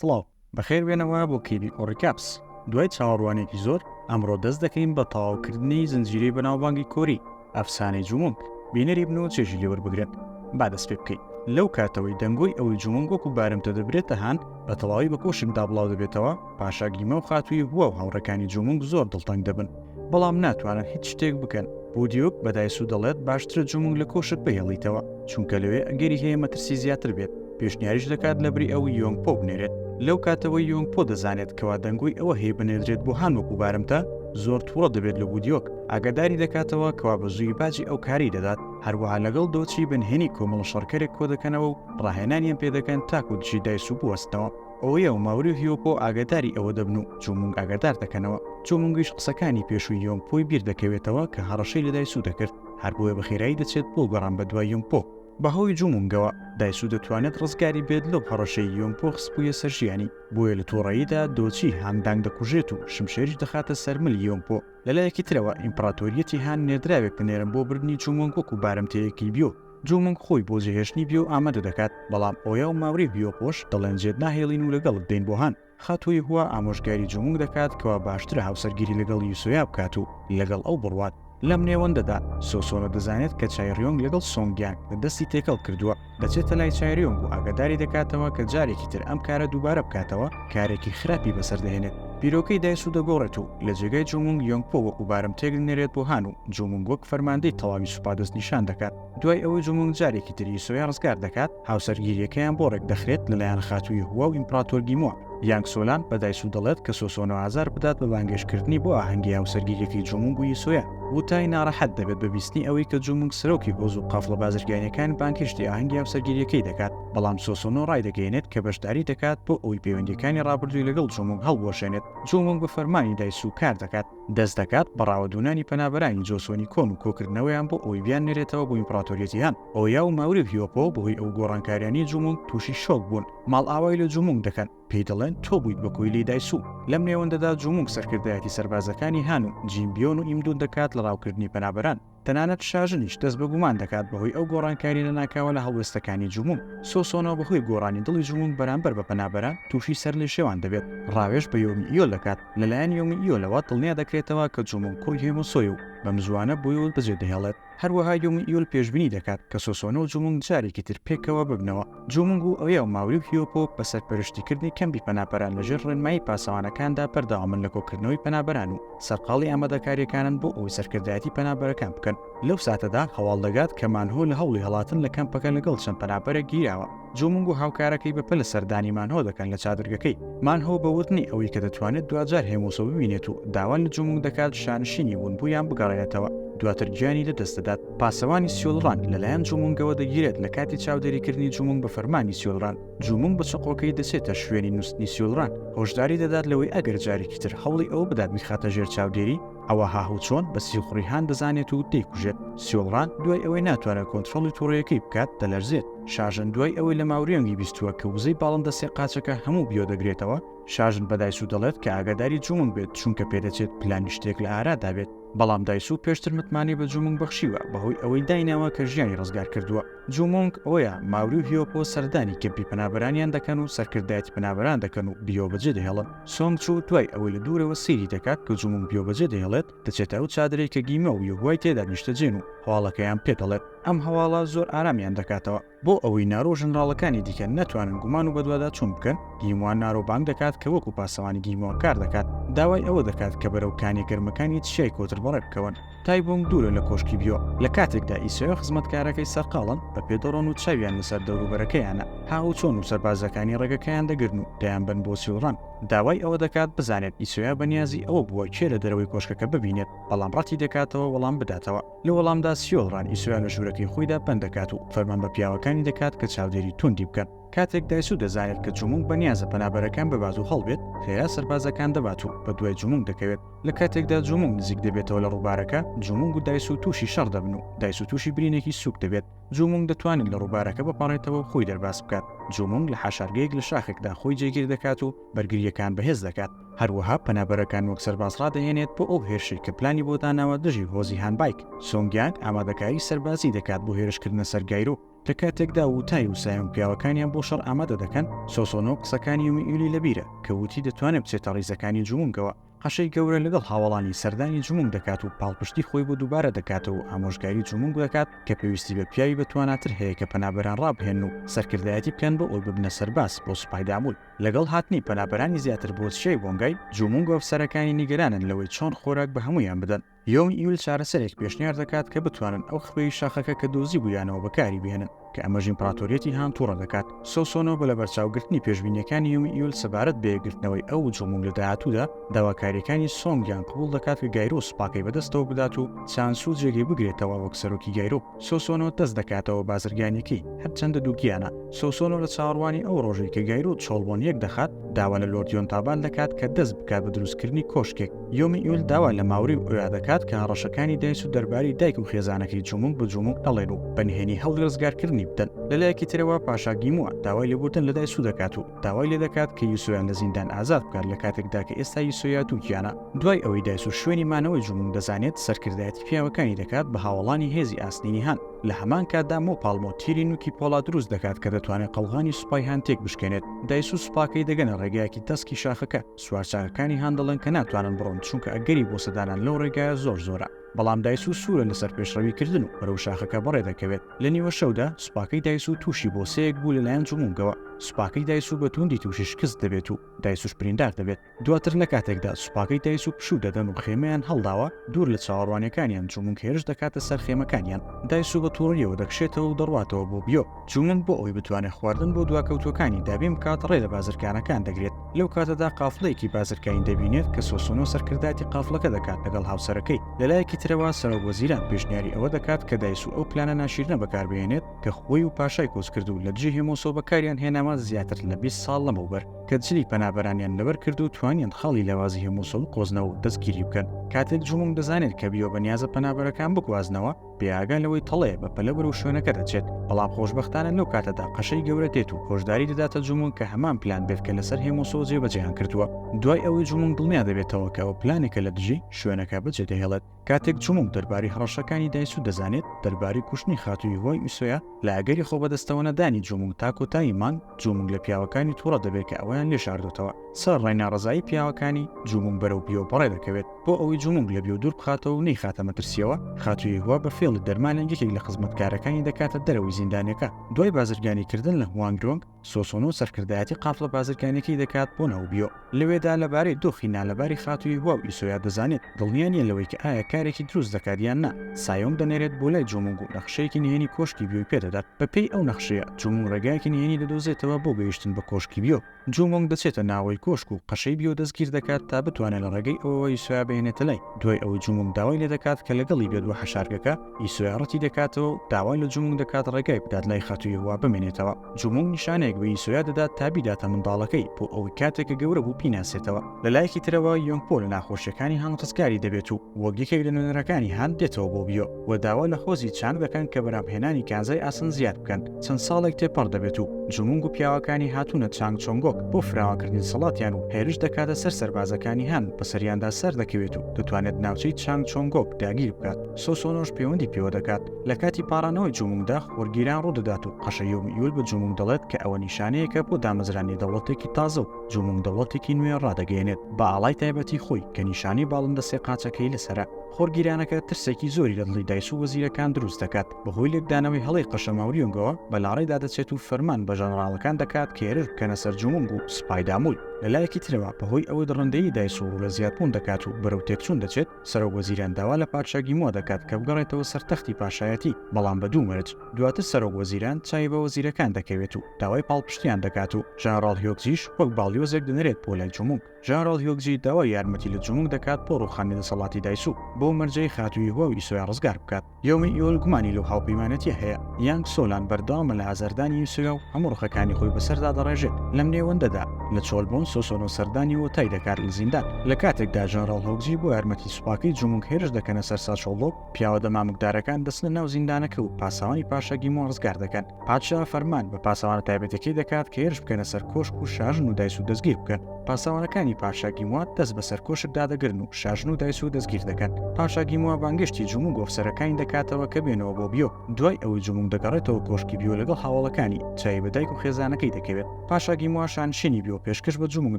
سڵاو، بەخێر بێنەوە بۆ کلیپی ئۆڕی کاپس. دوای چاوەڕوانییەکی زۆر، ئەمڕۆ دەست دەکەین بە تەواوکردنی زنجیرەی بەناوبانگی کۆری، ئەفسانەی جومونگ. بینەری بن و چێژی لێ وەربگرن. با دەست پێ بکەین. لەو کاتەوەی دەنگۆی ئەوەی جومونگ وەکو بارمتە دەبرێتە هان، بە تەواوی بە کۆشکدا بڵاو دەبێتەوە، پاشا گیما و خاتووی هوا و هاوڕێکانی جومونگ زۆر دڵتەنگ دەبن. بەڵام ناتوانن هیچ شتێک بکەن بودیوک بە دایسو دەڵێت باشترە جومنگ لە کۆشک بهێڵیتەوە چونکە لەوێ ئەگەری هەیە مەترسی زیاتر بێت پێشنیاریش دەکات لە بری ئەو یۆنگ پۆ بنێرێت لەو کاتەوەی یۆنگ پۆ دەزانێت کەوا دەنگۆی ئەوە هەیە بنێدرێت بۆ هان وەکو بارمتە زۆر تووڕە دەبێت لە بودیۆک ئاگاداری دەکاتەوە کەوا بە زووی باجی ئەو کاری دەدات هەروەها لەگەڵ دۆچی بنهێنی کۆمەڵە شەڕکەرێک کۆ دەکەنەوە و ڕاهێنانیان پێدەکەن تاکو دژی دایسو بوەستنەوە ئۆیە و ماوری و هیۆکۆ ئاگەداری ئەوە دەبن و چومونگ ئاگەدار دەکەنەوە چومونگیش قسەکانی پێشووی یۆنگ پۆی بیر دەکەوێتەوە کە هەڕەشەی لە دایسوو دەکرد هەر بۆیە بە خێرایی دەچێت بۆ گەڕان بە دوای یۆنگ پۆ بە هۆی جومونگەوە دایسوو دەتوانێت ڕزگاری بێت لەو هەڕەشەی یۆنگ پۆ خستبوویە سەر ژیانی بۆیە لە تووڕەییدا دۆچی هان دانگ دەکوژێت و شمشێریش دەخاتە سەر ملی یۆنگ پۆ لەلایەکی ترەوە ئیمپڕاتۆریەتی هان نێردراوێک دەنێرن بۆ بردنی چومونگ وەکو بارمتەیەکی بیۆ جومونگ خۆی بۆ جێهێشتنی بیۆ ئامادە دەکات، بەڵام ئۆیا و ماوری بیۆ خۆش دەڵێن جێت ناهێڵین و لەگەڵت دێین بۆ هان. خاتوو یهوه ئامۆژگاری جومونگ دەکات کەوا باشترە هاوسەرگیری لەگەڵ یوسۆیا بکات و لەگەڵ ئەو بڕوات. لەم نێوەندەدا، سۆسۆنۆ دەزانێت کە چایریۆنگ لەگەڵ سۆنگیانگ لە دەستی تێکەڵ کردووە، دەچێتە لای چایریۆنگ و ئاگاداری دەکاتەوە کە جارێکی تر ئەم کارە دووبارە بکاتەوە، کارێکی خراپی بەسەر دەهێنێت، بیرۆکەی دایسو دەگۆڕێت و لە جێگای جومونگ یۆنگپۆ وەکو بارمتەیەک دەنێرێت بۆ هان و جومونگ وەک فەرماندەی تەواوی سوپا دەستنیشان دەکات. دوای ئەوەی جومونگ جارێکی تر یسۆیا ڕزگار دەکات، هاوسەرگیرییەکەیان بۆ ڕێکدەخرێت لەلایەن خاتووی هوا و ئیمپڕاتۆر گیمۆن. یانگ سۆلان بە دایسو دەڵێت کە سۆسۆنۆ ئازار بدات بە بانگێشتکردنی بۆ ئاهەنگی هاوسەرگیرییەکەی جومونگ و یسۆیا. ووتای ناڕەحەت دەبێت بە بیستنی ئەوەی کە جومونگ سەرۆکی هۆز و قافڵە بازرگانییەکان بانگهێشتی ئاهەنگی هاوسەرگیرییەکەی دەکات. بەڵام سۆسۆنۆ ڕایدەگەیەنێت کە بەشداری دەکات بۆ ئەوەی پەیوەندییەکانی ڕابردووی لەگەڵ جۆمۆنگ هەڵبوەشێنێت، جۆمۆنگ بە فەرمانی دایسوو کار دەکات، دەست دەکات بە ڕاوەدوونانی پەنابەرانی جۆسۆنی کۆن و کۆکردنەوەیان بۆ ئەوەی بیاننێرێتەوە بۆ ئیمپڕاتۆریەتی هان، ئۆیا و ماوری و هیۆپۆ بەهۆی ئەو گۆڕانکاریانەی جۆمۆنگ تووشی شۆک بوون، ماڵئاوای لە جۆمۆنگ دەکەن، پێی دەڵێن تۆ بوویت بە کۆیلەی دایسوو. لەم نێوەندەدا جۆمۆنگ سەرکردایەتی سەربازەکانی هان و جیمبیۆن و ئیمدون دەکات لە ڕاوکردنی پەنابەران. تەنانەت شاژنیش دەست بە گومان دەکات بەهۆی ئەو گۆڕانکاری لەناکاوە لە هەڵوێستەکانی جومونگ. سۆسۆنۆ بەهۆی گۆڕانی دڵی جومونگ بەرامبەر بە پەنابەران تووشی سەرلێشێوان دەبێت، ڕاوێژ بە یۆمی ئیۆ دەکات، لەلایەن یۆمی ئیۆلەوە دڵنیا دەکرێتەوە کە جومونگ کوڕی هێموسۆیە و بەمزووانە بۆی وت بەجێدەهێڵێت. هەروەها یۆمی ئیۆل پێشبینی دەکات کە سۆسۆنۆ و جومونگ جارێکی تر پێکەوە ببنەوە. جومنگ و ئۆیا و ماوری و هیۆپۆ بە سەرپەرشتیکردنی کەمپی پەنابەران لەژێر ڕێنمایی پاسەوانەکاندا بەردەوامن لە کۆکردنەوەی پەنابەران و سەرقاڵی ئامادەکارییەکانن بۆ ئەوەی سەرکردایەتی پەنابەرەکان بکەن لەو ساتەدا هەواڵ دەگات کە مانهۆ لە هەوڵی هەڵاتن لە کەمپەکە لەگەڵ چەند پەنابەرێک گیراوە جومنگ و هاوکارەکەی بەپەلە سەردانی مانهۆ دەکەن لە چادرگەکەی مانهۆ بە وتنی ئەوەی کە دەتوانێت دواجار هێموسۆ ببینێت و داوا لە جومنگ دەکات شانشینی ونبوویان بگەڕێنێتەوە دواتر گیانی لەدەست دەدات پاسەوانی سیولڕان لەلایەن جومونگەوە دەگیرێت لە کاتی چاودێریکردنی جومونگ بە فەرمانی سیولڕان، جومونگ بە چەقۆکەی دەچێتە شوێنی نوستنی سیولڕان، هۆشداری دەدات لەوەی ئەگەر جارێکی تر هەوڵی ئەوە بدات بیخاتە ژێر چاودێری، ئەوا هاهوچۆن بە سیخوڕی هان دەزانێت و دەیکوژێت. سیولڕان دوای ئەوەی ناتوانێت کۆنترۆڵی توڕەیەکەی بکات، دەلەرزێت. شاژن دوای ئەوەی لە ماوریۆنگی بیستووە کە وزەی باڵندە سێ قاچەکە هەموو بیۆ دەگرێتەوە، شاژن بە دایسو دەڵێت کە ئاگاداری جومونگ بێت چونکە پێدەچێت پلانی شتێک لە ئارادا بێت. بەڵام دایسوو پێشتر متمانەی بە جومنگ بەخشیوە بەهۆی ئەوەی دایناوە کە ژیانی ڕزگار کردووە جومۆنگ ئۆیا ماوری و هیۆپۆ سەردانی کەمپی پەنابەرانیان دەکەن و سەرکردایەتی پەنابەران دەکەن و بیۆ بەجێ دەهێڵن سۆنگ چو دوای ئەوەی لە دوورەوە سەیری دەکات کە جومۆنگ بیۆ بەجێ دەهێڵێت دەچێتە ئەو چادرەی کە گیمۆ و یۆهوای تێدا نیشتەجێن و هەواڵەکەیان پێ دەڵێت ئەم هەواڵە زۆر ئارامیان دەکاتەوە بۆ ئەوەی نارۆ و ژەنراڵەکانی دیکە نەتوانن گومان و بەدواداچوون بکەن، گیموان نارۆ بانگ دەکات کە وەکو پاسەوانی گیموان کار دەکات، داوای ئەوە دەکات کە بەرەو کانیە گەرمەکانی چیای کۆتر بەڕێ بکەون. تایبۆنگ دوورە لە کۆشکی بیۆ، لە کاتێکدا ئیسۆی و خزمەتکارەکەی سەرقاڵن بە پێ دەڕۆن و چاویان لەسەر دەوروبەرەکەیانە، هاهوچۆن و سەربازەکانی ڕێگەکەیان دەگرن و دەیانبەن بۆ سیوڕان، داوای ئەوە دەکات بزانێت ئیسۆیا بەنیازی ئەوە بووە کێ لە دەرەوەی کۆشکەکە ببینێت، بەڵام ڕەتی دەکاتەوە وەڵام بداتەوە. لە وەڵامدا سیۆل ڕان ئیسۆیا لە ژوورەکەی خۆیدا بەند دەکات و فەرمان بە پیاوەکانی دەکات کە چاودێری توندی بکەن. کاتێک دایسو دەزانێت کە جومونگ بەنیازە پەنابەرەکان ببات و هەڵبێت، خێرا سەربازەکان دەبات و بەدوای جومونگ دەکەوێت. لە کاتێکدا جومونگ نزیک دەبێتەوە لە ڕووبارەکە، جومونگ و دایسو تووشی شەڕ دەبن و دایسو تووشی برینێکی سووک دەبێت. جومونگ دەتوانێت لە ڕووبارەکە بپەڕێتەوە و خۆی دەرباز بکات. جومونگ لە حەشارگەیەک لە شاخێکدا خۆی جێگیر دەکات و بەرگرییەکان بەهێز دەکات. هەروەها پەنابەرەکان وەک سەرباز ڕادەهێنێت بۆ ئەو هێرشەی کە پلانی بۆ داناوە دژی هۆزی هانبایک سۆنگیانگ ئامادەکاری سەربازی دەکات بۆ هێرشکردنە سەر گایرۆ لە کاتێکدا وتای و سایۆنگ پیاوەکانیان بۆ شەڕ ئامادە دەکەن سۆسۆنۆ قسەکانی یومیئیلی لەبیرە کە وتی دەتوانێت بچێتە ڕیزەکانی جومونگەوە قەشەی گەورە لەگەڵ هاوەڵانی سەردانی جومونگ دەکات و پاڵپشتی خۆی بۆ دووبارە دەکاتەوە و ئامۆژگاری جومونگ دەکات کە پێویستی بە پیاوی بەتواناتر هەیە کە پەنابەران ڕابهێنن و سەرکردایەتی بکەن بۆ ئەوەی ببنە سەرباز بۆ سوپای دابوون لەگەڵ هاتنی پەنابەرانی زیاتر بۆ چیای بۆنگای، جومونگ و ئەفسەرەکانی نیگەرانن لەوەی چۆن خۆراک بە هەموویان بدەن. یۆنگ ئیول چارەسەرێک پێشنیار دەکات کە بتوانن ئەو خوێی شاخەکە کە دۆزیبوویانەوە بەکاری بهێنن، کە ئەمەش ئیمپراتۆریەتی هان توڕە دەکات. سۆسۆنۆ بە لەبەرچاوگرتنی پێشبینییەکانی یۆنگ ئیول سەبارەت بە یەکگرتنەوەی ئەو و جومونگ لە داهاتوودا، داواکارییەکانی سۆنگ یانگ قبوڵ دەکات کە گایرۆ سوپاکەی بەدەستەوە بدات و چان سو جێگەی بگرێتەوە وەک سەرۆکی گایرۆ. سۆسۆنۆ دەست دەکاتەوە بازرگانیەکەی هەرچەندە دووگیانە. سۆسۆنۆ لە چاوەڕوانی ئەو ڕۆژەی کە گایرۆ و چۆڵبۆن یەک دەخات، داوا لە لۆرد یۆنتابان دەکات کە دەست بکات بە دروستکردنی کۆشکێک. یۆمیئیول داوا لە ماوری و ئۆیا دەکات کە هەڕەشەکانی دایس و دەرباری دایک و خێزانەکەی جوموگ بە جوموگ نەڵێن و بە نهێنی هەوڵی ڕزگارکردنی بدەن. لەلایەکی ترەوە پاشا گیموە داوای لێبوردن لە دایسو دەکات و. داوای لێ دەکات کە یوسۆیان لە زیندان ئازاد بکات لە کاتێکدا کە ئێستا یوسۆیا دووگیانە. دوای ئەوەی دایسو شوێنی مانەوەی جومونگ دەزانێت، سەرکردایەتی پیاوەکانی دەکات بە هاوەڵانی هێزی ئاسنینی هان. لە هەمان کاتدا مۆ پاڵمۆ تیری نوکی پۆڵا دروست دەکات کە دەتوانێت قەڵغانی سوپای هان تێک بشکێنێت. دایسو سوپاکەی دەگەنە ڕێگایەکی تەسکی شاخەکە. سوارچاکەکانی هان دەڵێن کە ناتوانن بڕۆن چونکە ئەگەری بۆسەدانان لەو ڕێگایە زۆر زۆرە. بەڵام دایسوو سوورە لەسەر پێشڕەوی کردن و بەرەو شاخەکە بەڕێ دەکەوێت لە نیوە شەودا سوپاکەی دایسوو تووشی بۆسەیەک بوو لەلایەن جمونگەوە سوپاکەی دایسوو بە تووندی تووشی شکست دەبێت و دایسووش بریندار دەبێت دواتر لە کاتێکدا سوپاکەی دایسوو پشوو دەدەن و خێمەیان هەڵداوە دوور لە چاوەڕوانیەکانیان جمونگ هێرش دەکاتە سەر خێمەکانیان دایسوو بە توڕیەوە دەکشێتەوە و دەڕواتەوە بۆ بیۆ چوون بۆ ئەوەی بتوانێت خواردن بۆ دواکەوتووەکانی دابین بکات ڕێ لە بازرگانەکان دەگرێت لەو کاتەدا قافڵەیەکی بازرگانی دەبینێت کە سۆسۆنۆ سەرکردایەتی قافڵەکە دەکات لەگەڵ هاوسەرەکەی لەلایەکی ترەوە سەرۆک وەزیران پێشنیاری ئەوە دەکات کە دایسو ئەو پلانە ناشیرنە بەکاربهێنێت کە خۆی و پاشای کۆچکردوو لە دژی هێمۆسۆ بەکاریان هێناوە زیاتر لە بیست ساڵ لەمەوبەر کە جلی پەنابەرانیان لەبەر کرد و توانیان خاڵی لاوازی هێمۆسۆ بقۆزنەوە و دەستگیری بکەن کاتێک جومونگ دەزانێت کە بیۆ بەنیازە پەنابەرەکان بگوازنەوە بێ ئاگا لەوەی تەڵەیە بە پەلە بەرەو شوێنەکە دەچێت بەڵام خۆشببختانە لەو کاتەدا قەشەی گەورە دێت و هۆشداری دەداتە جومون کە هەمان پلان بێت کە لەسەر هێمۆسۆ جێبەجێیان کردووە دوای ئەوەی جومون دڵنیا دەبێتەوە کە ئەو پلانێکە لە دژی شوێنەکە بەجێ دەهێڵێت کاتێک جومون دەرباری هەڕەشەکانی دایسوو دەزانێت دەرباری کوشتنی خاتووی هۆی ئوسۆیا لە ئەگەری خۆبەدەستەوەنەدانی جومونگ تا کۆتایی مانگ، جومونگ لە پیاوەکانی توڕە دەبێت کە ئەویان لێ شاردۆتەوە. سەرەڕای ناڕەزایی پیاوەکانی، جومونگ بەرەو بیۆ بەڕێ دەکەوێت. بۆ ئەوەی جومونگ لە بیۆ دوور بخاتەوە و نەیخاتە مەترسییەوە، خاتوو یهوه بە فێڵی دەرمانێک یەکێک لە خزمەتکارەکانی دەکاتە دەرەوەی زیندانەکە. دوای بازرگانیکردن لە هوانگ یۆنگ، سۆسۆنۆ سەرکردایەتی قافڵە بازرگانیەکەی دەکات بۆ ناوبیۆ، لەوێدا لەبارەی دۆخی نالەباری خاتووی هوا و ئیسۆیا دەزانێت، دڵنیا نییە لەوەی کە ئایا کارێکی دروست دەکات یان نا، سایۆنگ دەنێرێت بۆ لای جۆمونگ و نەخشەیەکی نهێنی کۆشکی بیۆی پێدەدات، بەپێی ئەو نەخشەیە جۆمونگ ڕێگایەکی نهێنی دەدۆزێتەوە بۆ گەیشتن بە کۆشکی بیۆ، جۆمونگ دەچێتە ناوەوەی کۆشک و قەشەی بیۆ دەستگیر دەکات تا بتوانێت لە ڕێگەی ئەوەوە ئیسۆیا بهێنێتە لای، دوای ئەوەی جۆمونگ داوای لێدەکات کە لەگەڵی بێت بۆ حەشارگەکە، ی سۆیاڕەتی دەکاتەوە و داوا لە جومونگ دەکات ڕێگای بدات لای خاتوو یەهوا بمێنێتەوە جومونگ نیشانەیەک بە یسۆیا دەدات تا بیداتە منداڵەکەی بۆ ئەوەی کاتێک کە گەورە بوو بیناسێتەوە لە لایەکی ترەوە یۆنگ پۆ لە ناخۆشیەکانی هان ڕزگاری دەبێت و وەک یەکێک لە نوێنەرەکانی هان دێتەوە بۆ بیۆ و داوا لە هۆزی چانگ دەکەن کە بەرهەمهێنانی کانزای ئاسن زیاد بکەن چەند ساڵێک تێپەڕ دەبێت و جومونگ و پیاوەکانی هاتوونە چانگ چۆنگۆک بۆ فراوانکردنی سەڵاتیان و هێرش دەکاتە سەر سەربازەکانی هان بەسەریاندا سەردەکەوێت و دەتوانێت ناوچەی چانگ چۆنگۆک داگیر بکات سۆسۆنۆش پێوەندی پێوە دەکات. لە کاتی پاڕانەوەی جومونگدا، وەرگیران ڕوودەدات و قەشە یۆم یول بە جومونگ دەڵێت کە ئەوە نیشانەیەکە بۆ دامەزرانی دەوڵەتێکی تازە و جومونگ دەوڵەتێکی نوێ ڕادەگەیەنێت بە ئاڵای تایبەتی خۆی کە نیشانەی باڵندە سێ قاچەکەی لەسەرە. خۆرگیرانەکە ترسێکی زۆری لە دڵی دایس و وەزیرەکان دروست دەکات. بەهۆی لێکدانەوەی هەڵەی قەشە ماوریۆنگەوە، بە لاڕێدا دەچێت و فەرمان بە ژەنەڕاڵەکان دەکات کە هێرش بکەنە سەر جومونگ و سوپای دامول. لەلایەکی ترەوە، بەهۆی ئەوەی دڕندەیی دایس و ڕوو لە زیادبوون دەکات و بەرەو تێکچوون دەچێت، سەرۆک وەزیران داوا لە پادشا گیمۆ دەکات کە بگەڕێتەوە سەر تەختی پاشایەتی، بەڵام بە دوو مەرج، دواتر سەرۆک وەزیران چاوی بە وەزیرەکان دەکەوێت و داوای پاڵپشتییان دەکات و ژەنەڕاڵ هیۆکجیش وەک باڵیۆزێک دەنرێت بۆ لای جومونگ. ژەنەڕاڵ هیۆکجی داوای یارمەتی لە جومونگ دەکات بۆ ڕووخانی دەسەڵاتی دایسوو، بەو مەرجەی خاتووی هواو ئیسۆیا ڕزگار بکات. یۆنگ یول گومانی لەو هاوپەیمانێتیە هەیە، یانگ سۆلان بەردەوامە لە هەزاردانی یوسویا و هەموو ڕقەکانی خۆی بەسەر دادەڕێژێت، لەم نێوەندەدا لە چۆل بۆن سۆسۆنۆ سەردانی وۆتای دەکات لە زیندان، لە کاتێکدا ژەنراڵ هۆگزی بۆ یارمەتی سوپاکەی جومونگ هێرش دەکەنە سەر ساچۆڵۆک، پیاوە دەمامکدارەکان دەچنە ناو زیندانەکە و پاسەوانی پاشا گیمۆ ڕزگار دەکەن. پادشا فەرمان بە پاسەوانە تایبەتەکەی دەکات کە هێرش بکەنە سەر کۆشک و شاژن و دایس و دەستگیر بکەن پاسەوانەکانی پاشا گیموات دەست بە سەر کۆشک دادەگرن و شاژن و دایس و دەستگیر دەکەن پاشا گیموە بانگشتی جمو گۆفسەرەکانی دەکاتەوە کە بێنەوە بۆ بیۆ دوای ئەوەی جموم دەگەڕێتەوە کۆشکی بیۆ لەگەڵ هاوڵەکانی چای بە دایک و خێزانەکەی دەکەوێت پاشا گیموە شانشینی بیۆ پێشکەش بە جموم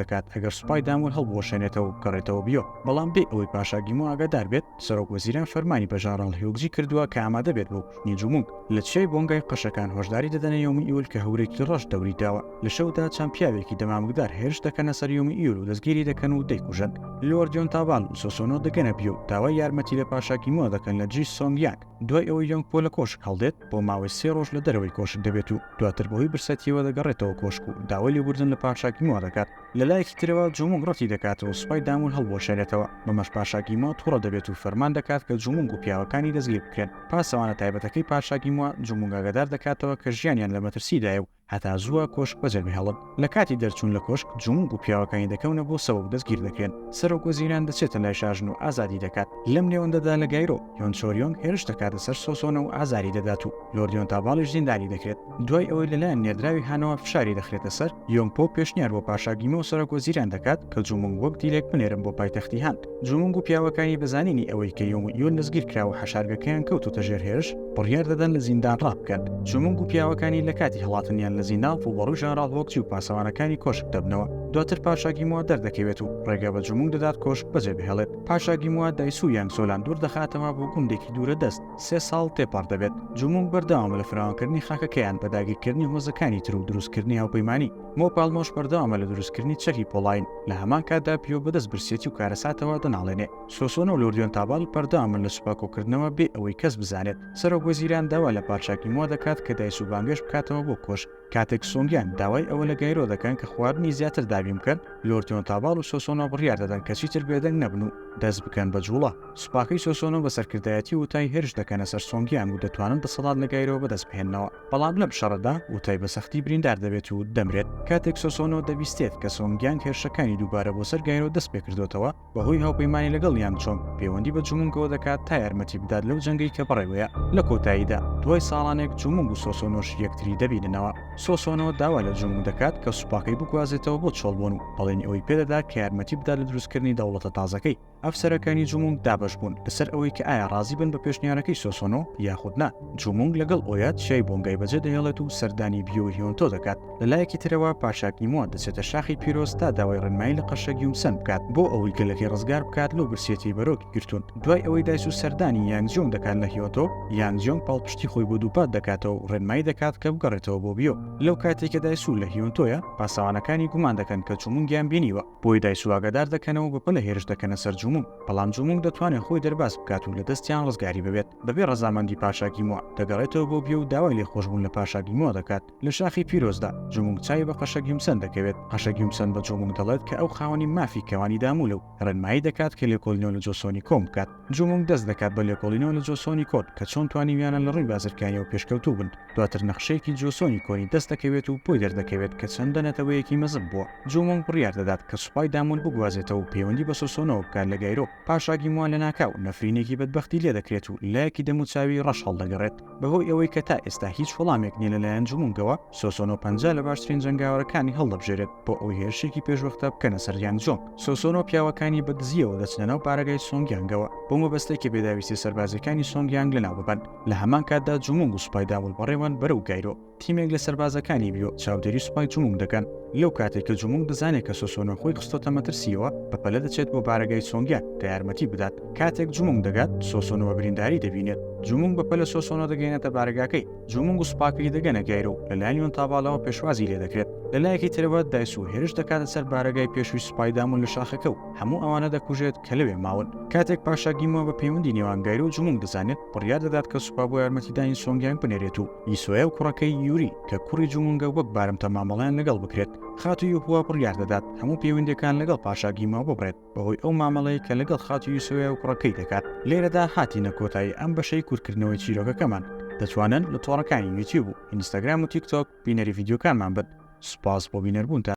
دەکات ئەگەر سوپای دامور هەڵبوەشێنێتەوە بکەڕێتەوە بیۆ بەڵام بێ ئەوەی پاشا گیمو ئاگادار بێت سەرۆک وەزیران فەرمانی بە ژاراڵ هیوگجی کردووە کە ئامادە بێت بۆ کوشتنی جومونگ لە چیای بۆنگای قەشەکان هۆشداری دەدەنە یۆمی ئیول کە هەورێکی ڕەش دەوری داوە لە شەودا چەند پیاوێکی دەمامکدار هێرش دەکەنە سەر یۆمی ئیول و دەستگیری دەکەن و دەیکوژن لۆر جۆنتابان و سۆسۆنۆ دەگەنە بیۆ و داوای یارمەتی لە پاشا گیمۆ دەکەن لە جی سۆنگ یانگ دوای ئەوەی یۆنگ پۆ لە کۆشک هەڵدێت بۆ ماوەی سێ ڕۆژ لە دەرەوەی کۆشک دەبێت و دواتر بەهۆی برسەتیەوە دەگەڕێتەوە کۆشک و داوای لێبوردن لە پاشا گیمۆ دەکات لە لایەکی ترەوە جومونگ ڕەتی دەکات و سوپای دامون هەڵبوەشێنێتەوە، بەمەش پاشا گیمۆ توڕە دەبێت و فەرمان دەکات کە جومونگ و پیاوەکانی دەستگیر بکرێن. پاسەوانە تایبەتەکەی پاشا گیمۆ جومونگ ئاگادار دەکاتەوە کە ژیانیان لە مەترسیدایە و هەتا زووە کۆشک بەجێبهێڵن. لە کاتی دەرچون لە کۆشک جومونگ و پیاوەکانی دەکەونە بۆ سەوە و دەستگیر دەکرێن. سەرۆک وەزیران دەچێتە لای شاژن و ئازادی دەکات. لەم نێوەندەدا لە گایرۆ، یۆن چۆریۆنگ هێرش دەکاتە سەر سۆسۆنە و ئازاری دەدات و لۆرد یۆنتاباڵیش زیندانی دەکرێت. دوای ئەوەی لەلایەن نێردراوی هانەوە فشاری دەخرێتە سەر یۆنگپۆ پێشنیار بۆ پاشاگیمە و سەرۆک وەزیران دەکات کە جومنگ وەک دیلێک بنێرن بۆ پایتەختی هان جومنگ و پیاوەکانی بەزانینی ئەوەی کە یۆنگ یۆن دەستگیر کراوە حەشارگەکەیان کەوتوتە ژێر هێرش بڕیار دەدەن لە زیندان ڕابکەن جومنگ و پیاوەکانی لە کاتی هەڵاتنیان لە زیندان ڕووبەڕووی ژەنراڵ هۆکجی و پاسەوانەکانی کۆشک دەبنەوە دواتر پاشاگیمەوە دەردەکەوێت و ڕێگە بە جومنگ دەدات کۆشک بەجێ بهێڵێت پاشاگیموە دایسو یانگ سۆلان دوور دەخاتەوە بۆ گوندێکی دوورە دەست سێ ساڵ تێپەڕ دەبێت جومونگ بەردەوامە لە فراوانکردنی خاکەکەیان بە داگیرکردنی هۆزەکانی تر و دروستکردنی هاوپەیمانی، مۆ پالمۆش بەردەوامە لە دروستکردنی چەکی پۆڵاین، لە هەمان کاتدا پیۆ بەدەست برسێتی و کارەساتەوە دەناڵێنێ، سۆسۆنۆ و لوردیۆن تابال بەردەوامن لە سوپا کۆکردنەوە بێ ئەوەی کەس بزانێت، سەرۆک وەزیران داوا لە پادشاکی مۆ دەکات کە دایسوو بانگێشت بکاتەوە بۆ کۆشک. کاتێک سۆنگیان داوای ئەوە لە گایرۆ دەکەن کە خواردنی زیاتر دابین بکەن، لۆرتیۆن تاباڵ و سۆسۆنۆ بڕیار دەدەن کە چیتر بێدەنگ نەبن و دەست بکەن بە جووڵە. سوپاکەی سۆسۆنۆ بە سەرکردایەتی ووتای هێرش دەکەنە سەر سۆنگیان و دەتوانن دەسەڵات لە گایرۆ بەدەست بهێننەوە. بەڵام لەم شەڕەدا ووتای بە سەختی بریندار دەبێت و دەمرێت. کاتێک سۆسۆنۆ دەبیستێت کە سۆنگیانگ هێرشەکانی دووبارە بۆ سەر گایرۆ دەست پێکردۆتەوە، بەهۆی هاوپەیمانی لەگەڵ یانگ چۆنگ پەیوەندی بە جومونگەوە دەکات تا یارمەتی بدات لەو جەنگەی کە بەڕێوەیە لە کۆتاییدا دوای ساڵانێک جومونگ و سۆسۆنۆش یەکتری دەبیننەوە سۆسۆنۆ داوا لە جومونگ دەکات کە سوپاکەی بگوازێتەوە بۆ چۆڵبۆن و بەڵێنی ئەوەی پێدەدات کە یارمەتی بدات لە دروستکردنی دەوڵەتە تازەکەی ئەفسەرەکانی جومونگ دابەش بوون لەسەر ئەوەی کە ئایا ڕازی بن بە پێشنیارەکەی سۆسۆنۆ یاخود نا جومونگ لەگەڵ ئۆیات شای بۆنگای بەجێ دەهێڵێت و سەردانی بیۆهیۆنتۆ دەکات لە لایەکی ترەوە پاشا گیمۆن دەچێتە شاخی پیرۆز تا داوای ڕێنمایی لە قەشە گیومسەن بکات بۆ ئەوەی گەلەکەی ڕزگار بکات لەو برسێتی بەرۆکی گرتوون دوای ئەوەی دایس و سەردانی یانجیۆنگ دەکات لە هیۆتۆ یانجیۆنگ پاڵپشتی خۆی بۆ دووپات دەکاتەوە و ڕێنمایی دەکات کە بگەڕێتەوە بۆ بیۆ لەو کاتەی کە دایسو لە هیۆنتۆیە پاسەوانەکانی گومان دەکەن کە جومونگیان بینیوە بۆیە دایسو ئاگادار دەکەنەوە و بەپەلە هێرش دەکەنە سەر جومونگ بەڵام جومونگ دەتوانێت خۆی دەرباز بکات و لە دەستیان ڕزگاری ببێت بەبێ ڕەزامەندی پاشا گیمۆ دەگەڕێتەوە بۆ بیۆ و داوای لێخۆشبوون لە پاشا گیمۆ دەکات لە شاخی پیرۆزدا، جومونگ چاوی بە قەشە گیومسەن دەکەوێت، قەشە گیومسەن بە جومونگ دەڵێت کە ئەو خاوەنی مافی کەوانی دامولە و ڕێنمایی دەکات کە لێکۆلینەوە لە جۆسۆنی کۆن بکات. جومونگ دەست دەکات بە لێکۆڵینەوە لە جۆسۆنی کۆن کە چۆن توانیویانە لە ڕووی بازرگانیەوە پێشکەوتوو بن. دواتر نەخشەیەکی جۆسۆنی کۆنی دەست دەکەوێت و بۆی دەردەکەوێت کە چەندە نەتەوەیەکی مەزن بووە. جومونگ بڕیار دەدات کە سوپای دامول بگوازێتەوە و پەیوەندی بە سۆسۆنەوە بکات لە گایرۆ. پاشا گیموان لەناکاو نەفرینێکی بەدبەختی لێ دەکرێت و لایەکی دەموچاوی ڕەش هەڵدەگەڕێت. بەهۆی ئەوەی کە تا ئێستا هیچ وەڵامێک نیە لەلایەن جومونگەوە، سۆسۆنۆ پەنجا لە باشترین جەنگاوەرەکانی هەڵدەبژێرێت بۆ ئەوەی هێرشێکی پێشوەختە بکەنە سەر یانگ جۆنگ. سۆسۆنۆ پیاوەکانی بە دزییەوە دەچنە ناو بارەگای سۆنگ یانگەوە، بەو مەبەستەی کە بێداویستیە سەربازیەکانی سۆنگ یانگ لەناو ببەن. لە هەمان کاتدا جومونگ و سوپای دابڵ بەڕێوەن بەرەو گایرۆ. تیمێک لە سەربازەکانی بیۆ چاودێری سوپای جمونگ دەکەن، لەو کاتەی کە جمونگ دەزانێت کە سۆسۆنۆ خۆی خستۆتە مەترسییەوە، بە پەلە دەچێت بۆ بارەگای سۆنگیان کە یارمەتی بدات. کاتێک جمونگ دەگات، سۆسۆنۆ بە برینداری دەبینێت. جمونگ بە پەلە سۆسۆنۆ دەگەیەنێتە بارەگاکەی، جمونگ و سوپاکەی دەگەنە گایرۆ و لەلایەن یۆن تاباڵەوە پێشوازی لێ دەکرێت. لە لایەکی ترەوە، دایسو هێرش دەکاتە سەر بارەگای پێشووی سوپای دامون لە شاخەکە و هەموو ئەوانە دەکوژێت کە لەوێ ماون. کاتێک پاشا گیمۆ بە پەیوەندی نێوان گایرۆ و جمونگ دەزانێت، بڕیار دەدات کە سوپا بۆ یارمەتیدانی سۆنگیانگ بنێرێت و یسۆیە و کوڕەکەی یوری کە کوڕی جومونگە وەک بارمتە مامەڵەیان لەگەڵ بکرێت خاتو یوهوا بڕیار دەدات هەموو پەیوەندەکان لەگەڵ پاشا گیماو ببڕێت بەهۆی ئەو مامەڵەیە کە لەگەڵ خاتو یسۆیە و کوڕەکەی دەکات لێرەدا هاتینە کۆتایی ئەم بەشەی کورتکردنەوەی چیرۆکەکەمان دەتوانن لە تۆڕەکانی یوتیوب و ئینستاگرام و تیک تۆک بینەری ڤیدیۆکانمان بن سوپاس بۆ بینەربوونتان